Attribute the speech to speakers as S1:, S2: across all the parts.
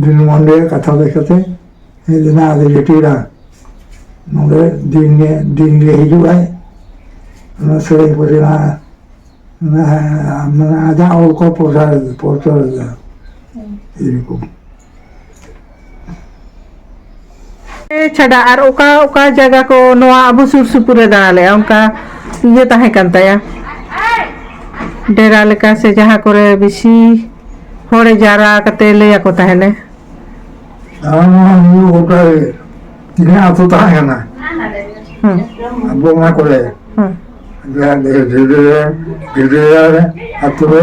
S1: ᱫᱤᱱ ᱢᱚᱱ ᱨᱮᱭᱟᱜ ᱠᱟᱛᱷᱟ ᱞᱟᱹᱭ ᱠᱟᱛᱮ ᱦᱮᱡ ᱞᱮᱱᱟ ᱟᱞᱮ ᱡᱟᱹᱴᱤᱨᱟ ᱱᱚᱰᱮ ᱫᱤᱱ ᱜᱮ ᱫᱤᱱ ᱜᱮ ᱦᱤᱡᱩᱜ ᱟᱭ ᱚᱱᱟ ᱥᱮᱨᱮᱧ ᱠᱚ ᱨᱮᱱᱟᱜ ᱢᱟᱱᱮ ᱟᱡᱟᱜ ᱚᱞ ᱠᱚ ᱯᱨᱚᱪᱟᱨ ᱯᱨᱚᱪᱟᱨ ᱮᱫᱟ ᱮᱨᱚᱠᱚᱢ ᱪᱷᱟᱰᱟ ᱟᱨ ᱚᱠᱟ ᱚᱠᱟ ᱡᱟᱭᱜᱟ ᱠᱚ ᱱᱚᱣᱟ ᱟᱵᱚ ᱥᱩᱨ ᱥᱩᱯᱩᱨ ᱨᱮ ᱫᱟᱬᱟ ᱞᱮᱜᱼᱟ ᱚᱱᱠᱟ ᱤᱭᱟᱹ ᱛᱟᱦᱮᱸ ᱠᱟᱱ ᱛᱟᱭᱟ ᱰᱮᱨᱟ ᱞᱮᱠᱟ ᱥᱮ ᱡᱟᱦᱟᱸ ᱠᱚᱨᱮ ᱵᱮᱥᱤ ᱦᱚᱲᱮ ᱡᱟᱣᱨᱟ ᱠᱟᱛᱮ ᱞᱟᱹᱭ ᱟᱠᱚ ᱛᱟᱦᱮᱱᱮ ᱜᱚᱴᱟ ᱛᱤᱱᱟᱹᱜ ᱟᱛᱳ ᱛᱟᱦᱮᱸ ᱠᱟᱱᱟ ᱟᱵᱚ ᱚᱱᱟ ᱠᱚᱨᱮ ᱰᱮᱨᱟ ᱰᱮᱨᱟ ᱟᱛᱳ ᱨᱮ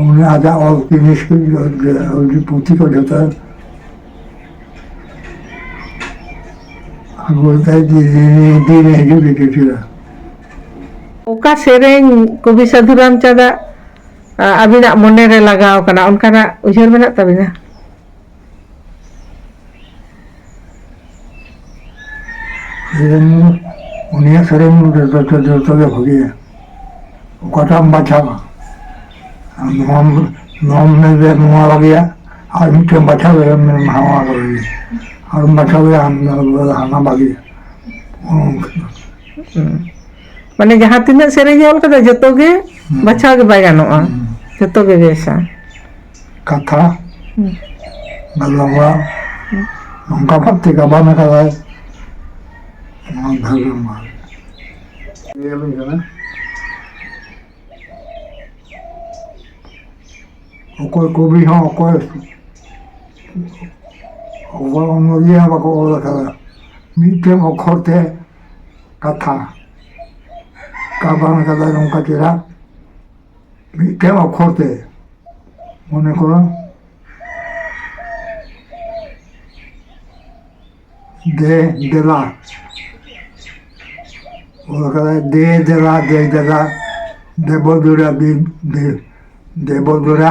S1: ᱩᱱᱤ ᱟᱡᱟᱜ ᱚᱞ ᱡᱤᱱᱤᱥ ᱠᱚ ᱯᱩᱛᱷᱤ ᱠᱚ ᱡᱚᱛᱚ ᱟᱹᱜᱩ ᱞᱮᱠᱷᱟᱡ ᱫᱤᱱ ᱦᱤᱡᱩᱜ ᱜᱮ ᱠᱤᱪᱷᱩ ᱚᱠᱟ ᱥᱮᱨᱮᱧ ᱠᱚᱵᱤ ᱥᱟᱹᱫᱷᱩ ᱨᱟᱢᱪᱟᱸᱫᱟᱜ ᱟᱹᱵᱤᱱᱟᱜ ᱢᱚᱱᱮᱨᱮ ᱞᱟᱜᱟᱣ ᱠᱟᱱᱟ ᱚᱱᱠᱟᱱᱟᱜ ᱩᱭᱦᱟᱹᱨ ᱢᱮᱱᱟᱜ ᱛᱟᱹᱵᱤᱱᱟ ᱩᱱᱤᱭᱟᱜ ᱥᱮᱨᱮᱧ ᱡᱚᱛᱚ ᱜᱮ ᱵᱷᱟᱹᱜᱤᱭᱟ ᱚᱠᱟᱴᱟᱜ ᱮᱢ ᱵᱟᱪᱷᱟᱣᱟ ᱱᱚᱣᱟᱢ ᱱᱚᱣᱟᱢ ᱢᱮᱱᱫᱟ ᱱᱚᱣᱟ ᱵᱷᱟᱹᱜᱤᱭᱟ ᱟᱨ ᱢᱤᱫᱴᱮᱱ ᱵᱟᱪᱷᱟᱣ ᱫᱟᱲᱮᱭᱟᱜᱼᱟ ᱢᱮᱱᱟᱢ ᱱᱚᱣᱟ ᱵᱷᱟᱹᱜᱤᱭᱟ ᱟᱨᱮᱢ ᱵᱟᱪᱷᱟᱣ ᱫᱟᱲᱮᱭᱟᱜᱼᱟ ᱦᱟᱱᱟ ᱵᱷᱟᱹᱜᱤᱭᱟ ᱢᱟᱱᱮ ᱡᱟᱦᱟᱸ ᱛᱤᱱᱟᱹᱜ ᱥᱮᱨᱮᱧᱮ ᱚᱞ ᱠᱟᱫᱟ ᱡᱚᱛᱚ ᱜᱮ ᱵᱟᱪᱷᱟᱣ ᱜᱮ ᱵᱟᱭ ᱜᱟᱱᱚᱜᱼᱟ ᱡᱚᱛᱚ ᱜᱮ ᱵᱮᱥᱟ ᱠᱟᱛᱷᱟ ᱜᱟᱞᱚᱜᱼᱟ ᱱᱚᱝᱠᱟ ᱵᱷᱟᱵ ᱛᱮ ᱜᱟᱵᱟᱱ ᱟᱠᱟᱫᱟᱭ ᱱᱚᱣᱟ ᱫᱷᱟᱹᱜᱟᱹ ᱢᱟ ᱧᱮᱞᱟᱹᱧ ᱠᱟᱱᱟ ᱚᱠᱚᱭ ᱠᱚᱵᱤ ᱦᱚᱸ ᱚᱠᱚᱭ ᱚᱠᱚᱭ ᱚᱱᱚᱞᱤᱭᱟᱹ ᱦᱚᱸ ᱵᱟᱠᱚ ᱚᱞ ᱟᱠᱟᱫᱟ ᱢᱤᱫᱴᱮᱱ ᱚᱠᱷᱚᱨ ᱛᱮ ᱠᱟᱛᱷᱟ ᱜᱟᱵᱟᱱ ᱟᱠᱟᱫᱟᱭ ᱱᱚᱝᱠᱟ ᱪᱮᱦᱨᱟ ᱢᱤᱫᱴᱮᱱ ᱚᱠᱠᱷᱚᱨ ᱛᱮ ᱢᱚᱱᱮ ᱠᱚᱨᱚ ᱫᱮ ᱫᱮᱞᱟ ᱚᱞ ᱠᱟᱫᱟᱭ ᱫᱮ ᱫᱮᱞᱟ ᱫᱮ ᱫᱮᱞᱟ ᱫᱮᱵᱚ ᱫᱩᱨᱟ ᱫᱮᱵᱚ ᱫᱩᱨᱟ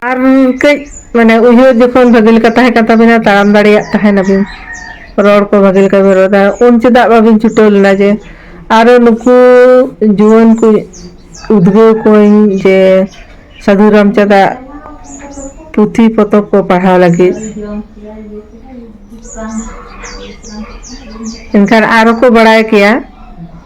S1: ᱟᱨ ᱠᱟᱹᱡ ᱢᱟᱱᱮ ᱩᱭᱦᱟᱹᱨ ᱡᱚᱠᱷᱚᱱ ᱵᱷᱟᱹᱜᱤ ᱞᱮᱠᱟ ᱛᱟᱦᱮᱸ ᱠᱟᱱ ᱛᱟᱵᱤᱱᱟ ᱛᱟᱲᱟᱢ ᱫᱟᱲᱮᱭᱟᱜ ᱛᱟᱦᱮ ᱱᱟᱵᱤᱱ ᱨᱚᱲ ᱠᱚ ᱵᱷᱟᱹᱜᱤ ᱞᱮᱠᱟ ᱵᱤᱱ ᱨᱚᱲ ᱫᱟ ᱩᱱ ᱪᱮᱫᱟᱜ ᱵᱟᱵᱤᱱ ᱪᱷᱩᱴᱟᱹᱣ ᱞᱮᱱᱟ ᱡᱮ ᱟᱨᱚ ᱱᱩᱠᱩ ᱡᱩᱣᱟᱹᱱ ᱠᱚ ᱩᱫᱽᱜᱟᱹᱣ ᱠᱚᱣᱟᱹᱧ ᱡᱮ ᱥᱟᱹᱫᱷᱩ ᱨᱟᱢᱪᱟᱸᱫᱽ ᱟᱜ ᱯᱩᱛᱷᱤ ᱯᱚᱛᱚᱵ ᱠᱚ ᱯᱟᱲᱦᱟᱣ ᱞᱟᱹᱜᱤᱫ ᱮᱱᱠᱷᱟᱱ ᱟᱨᱚ ᱠᱚ ᱵᱟᱲᱟᱭ ᱠᱮᱭᱟ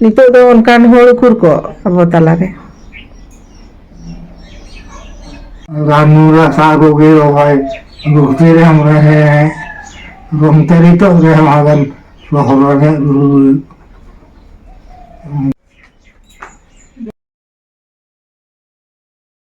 S1: ᱱᱤᱛᱚᱜ ᱫᱚ ᱚᱱᱠᱟᱱ ᱦᱚᱲ ᱩᱠᱩᱨ ᱠᱚ ᱟᱵᱚ ᱛᱟᱞᱟᱨᱮ ᱨᱟᱱ ᱢᱩᱨᱜᱟᱹᱱ ᱥᱟᱵ ᱟᱹᱜᱩ ᱜᱮ ᱨᱚᱦᱚᱭ ᱜᱩᱦᱛᱤ ᱨᱮ ᱦᱚᱸ ᱦᱮᱸ ᱜᱚᱢᱛᱮ ᱱᱤᱛᱚᱜ ᱨᱮ ᱦᱚᱸ ᱟᱵᱮᱱ ᱨᱚᱦᱚᱲ ᱨᱮ